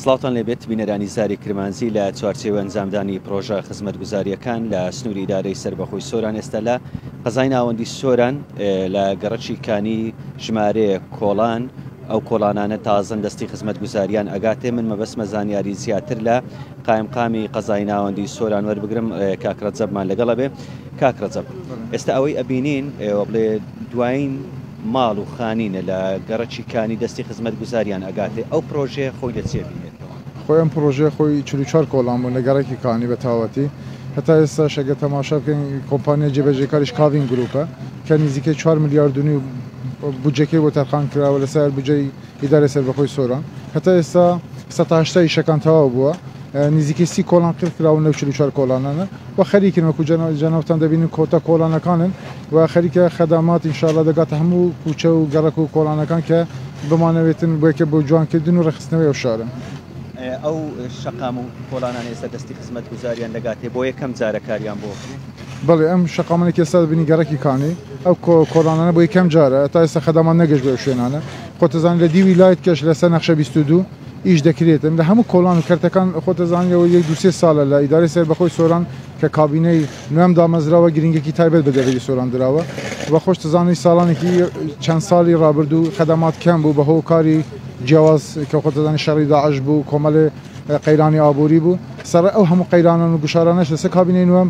سڵاوتان لێبێت بینەرانی زاری کرمانجی لە چوارچێوەی ئەنجامدانی پڕۆژە خزمەتگوزارییەکان لە سنووری ئیدارەی سەربەخۆی سۆران ئێستا لە قەزای ناوەندی سۆران لە گەڕەکی کانی ژمارەیە کۆڵان ئەو کۆڵانانە تازەن دەستی خزمەتگوزاریان ئەگاتێ من مەبەسمە زانیاری زیاتر لە قایمقامی قەزای ناوەندی سۆران وەربگرم کاک ڕەجەبمان لەگەڵە بێ کاک ڕەجەب ئێستا ئەوەی ئەبینین ئێوە بڵێ دوایین ماڵ و خانینە لە گەڕەکی کانی دەستی خزمەتگوزاریان ئەگاتێ ئەو پڕۆژەیە خۆی لە چێ بینێتەوە؟ خۆی ئەم پڕۆژەیە خۆی چل و چوار کۆڵان بوون لە گەڕەکی کانی بە تاوەتی هەتا ئێستاش ئەگەر تەماشا بکەین کۆمپانیای جێبەجێکاریش کاڤین گروپە کە نیزیکەی چوار ملیارد و نیو بودجەکەی بۆ تەرخان کراوە لە سایەر بودجەی ئیدارەی سەربەخۆی سۆران هەتا ئێستا سەد تا هەشتا ئیشەکان تەواو بووە، نزیکەی سی کۆڵان قیر کراون لەو چل و چوار کۆڵانانە و خەریکن وەکو جەنابتان دەبینن کۆتا کۆڵانەکانن و خەریکە خەدامات ان شاءاللە دەگاتە هەموو کوچە و گەڕەک و کۆڵانەکان کە بمانەوێتن بۆیەکە بۆ جوانکردن و ڕێکخستنەوەی ئەو شارە. ئەو شەقام و کۆڵانان ئێستا دەستی خزمەتگوزاریان دەگاتێ بۆ یەکەم جارە کاریان بۆ بەڵێ ئەم شەقامانێکی ئێستا دەبینی گەڕەکی کانی ئەو کۆڵانانە بۆ یەکەم جارە تا ئێستا خەدامان نەگەشت بۆ ئەو شوێنانە خۆتەزانی لە دیوی لایت کەش لە سەر نەخشە بیست و دوو ئیش دەکرێتن لە هەموو کۆڵان و کەرتەکان خۆتەزانی لەوە یەک دوو سێ سالە لە ئیدارەی سەربەخۆی سۆران کە کابینەی نوێم دامەزراوە گرینگێکی تایبەت بە دەڤەری سۆران دراوە و خۆشتەزانی سالانێکی چەند سالی رابردوو خەدەمات کەم بوو بە هۆ کاری جیاواز کە خۆتەزانی شەڕی داعش بوو کۆمەلێ قەیرانی ئابووری بوو سەڕەی ئەو هەموو قەیرانان و گوشارانەش لە سەر کابینەی نوێم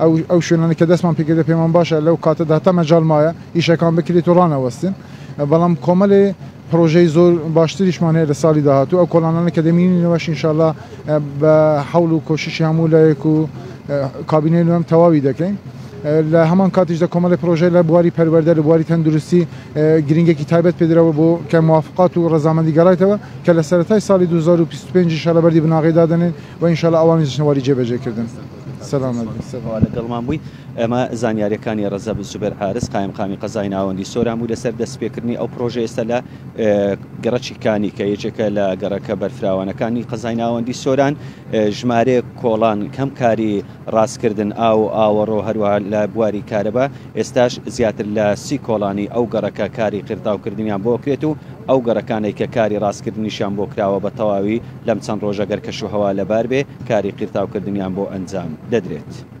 ئەو ئەو شوێنانەی کە دەستمان پێ کردە پێمان باشە لەو کاتەدا هەتا مەجال مایە ئیشەکان بکرێت و ڕانەوەستێن بەڵام کۆمەلێ پرۆژەی زۆر باشتریشمان هەیە لە ساڵی داهاتوو ئەو کۆڵانانە کە دەمینینەوەش ئینشاءاللە بە حەول و کۆششی هەموو لایەک و کابینەی نوێم تەواوی دەکەین لە هەمان کاتیش دە کۆمەلێ پرۆژەی لە بواری پەروەردە لە بواری تەندروستی گرنگێکی تایبەت پێدراوە بۆ کە موافقات و ڕەزامەندی گەڕایتەوە کە لە سەرەتای ساڵی 2025 ئینشاءاللە بەردی بناغەی دادەنێن و ان شاءاللە ئەوانیش دەچنە وەری جێبەجێکردن. سەلامەت بن. سپاس. لەگەڵمان بوویت. ئەمە زانیارییەکانی ڕەزەب زوبێر حارس، قایمقامی قەزای ناوەندی سۆران بوو لەسەر دەستپێکردنی ئەو پڕۆژەیە ئێستا لە گەڕەکی کانی کە یەکێکە لە گەڕەکە بەرفراوانەکانی قەزای ناوەندی سۆران، ژمارەیەک کۆڵان کەم کاری ڕاستکردن، ئاو و ئاوەڕۆ هەروەها لە بواری کارەبا، ئێستاش زیاتر لە سی کۆڵانی ئەو گەڕەکە کاری قیرتاوکردنیان بۆ کرێت و ئەو گەڕەکانەی کە کاری ڕاستکردنیشیان بۆ کراوە بە تەواوی لەم چەند ڕۆژە گەر کەشوهەوا لەبار بێ کاری قیرتاوکردنیان بۆ ئەنجام دەدرێت.